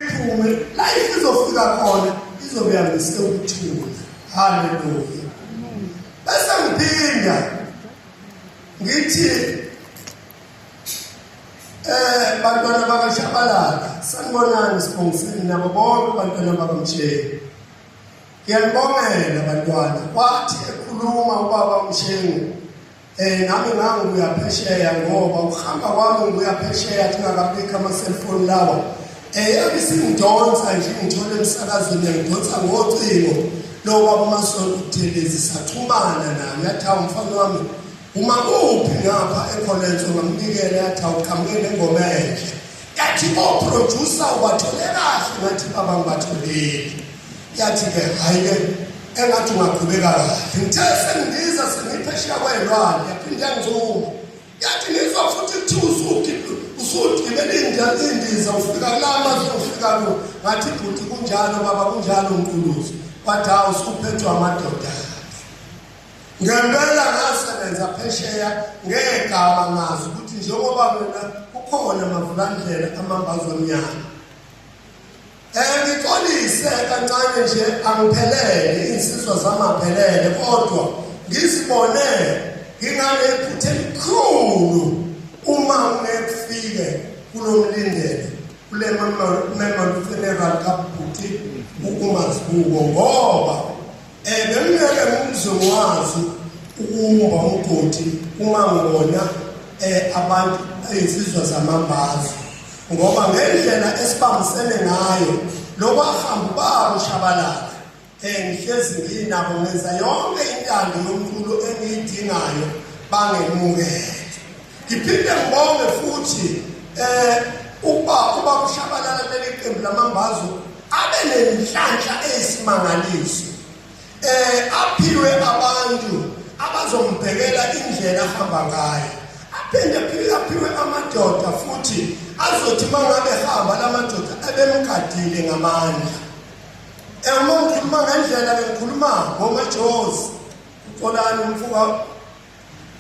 iphume la izofika khona izobe yangise ukuthula haleluya bese ngiphinda ngithi eh bantwana bakashabalala sanibonani sibongiseni nabo bonke bantwana bakamtsheni ngiyanibongela bantwana wathi ekhuluma ubaba umshengu Eh nami ngangu kuyaphesheya ngoba ukuhamba kwami kuyaphesheya kungakabikho ama cellphone lawa. Eh abisimdonsa nje ngithole emsakazweni ngidonsa ngocingo lo baba uMasolo uThelezi saxhumana naye yathi umfana wami uma kuphi ngapha eCollege ngamnikele yathi awuqhamuke nengoma enhle. Yathi o producer ubathole kahle ngathi baba ngibatholile. yathi ke hayi-ke engathi ungaqhubeka kahle ngithe sengiza sengiphesheya kweyilwane yaphinde yangizuma yathi ngizwa futhi kuthiwa usugibela indiza ufika kulamazwe ufika ku ngathi bhuti kunjalo baba kunjalo nkuluzo kwathi hawu usuphethwa amadoda ngempela ngasebenza phesheya ngegama ngazi ukuthi njengoba mina kukhona amavulandlela amambazi omnyama Ngixolise kancane nje angiphelele insizwa zamaphelele kodwa ngizibone ngingane iphuthe elikhulu uma ngekufike kulomlindele kule mama mama funeral kabhuti ukumazibuko ngoba Eh bengeke ngizwe ngwazi ukumba umgodi uma ngibona eh abantu insizwa zamambazo ngoba ngendlela esibambisene ngayo lokwahamba babo shabalala eh ngihlezi nginabo ngenza yonke intando yomculo engiyidingayo bangemukele Ngiphinde ngibonge futhi eh uba uba kushabalala leli qembu lamambazo abe nenhlanhla eyisimangaliso eh aphiwe abantu abazombhekela indlela ahamba ngayo aphinde aphinde aphiwe amadoda futhi azothi mangabe hamba lamadoda abemgadile ngamandla eh uma ngikhuluma ngendlela ngikhuluma ngomajozi uxolani umfuka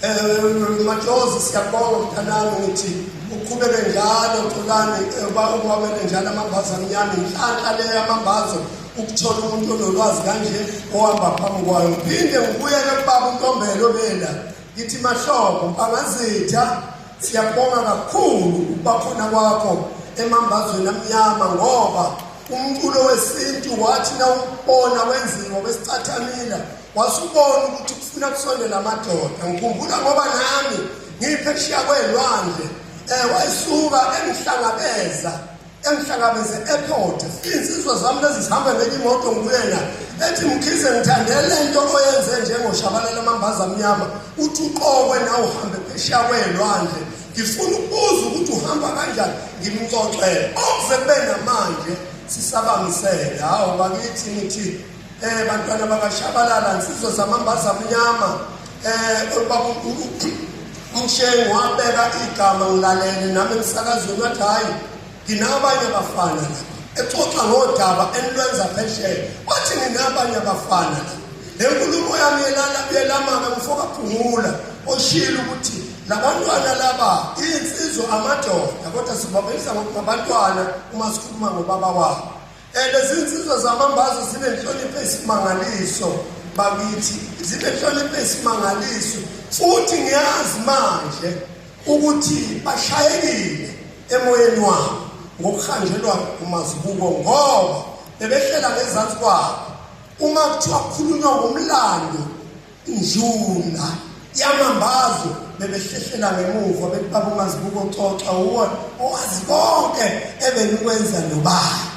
Eh, Majozi siyabonga mthanami ngithi uqhubeke njalo Xolani eh, uba ukwabele njalo amambazo amnyama inhlanhla le yamambazo ukuthola umuntu onolwazi kanje ohamba phambi kwayo ngiphinde ngibuyele kubaba untombelo bela ngithi mahlobo angazitha siyabonga kakhulu ukubakhona kwakho emambazweni amnyama ngoba umculo wesintu wathi nawubona wenziwa besicathamila wasubona ukuthi kufuna kusondela amadoda ngikhumbula ngoba nami ngipheshiya kwelwandle eh wayisuka engihlangabeza engihlangabeze airport insizwa zami lezi zihamba ngenye imoto ngikuyena ethi mkhize ngithandele into oyenze njengoshabalala amambaza amnyama uthi uqokwe nawe uhambe pheshiya kwelwandle ngifuna ukubuza ukuthi uhamba kanjani ngimxoxele okuze kube namanje sisabangisele hawu bakithi ngithi Eh bantwana bakashabalala nsizwa zamambaza mnyama eh ubaba umshengu wabeka igama ngilalele nami emsakazweni wathi hayi nginabanye abafana lapha exoxa ngodaba enilwenza phesheya wathi nginabanye abafana lapha le nkulumo yami yelala yelamaka mfokaphungula oshilo ukuthi labantwana laba insizwa amadoda kodwa sibabonisa ngokungabantwana uma sikhuluma ngobaba wabo Eh, lezi nsizwa zamambazo zinenhlonipho esimangaliso bakithi zinenhlonipho esimangaliso futhi ngiyazi manje ukuthi bashayekile emoyeni wabo ngokuhanjelwa umazibuko ngoba bebehlela ngezansi kwabo uma kuthiwa kukhulunywa ngomlando njula yamambazo bebehlehlela ngemuva bethi baba umazibuko xoxa uwona owazi konke ebenikwenza nobani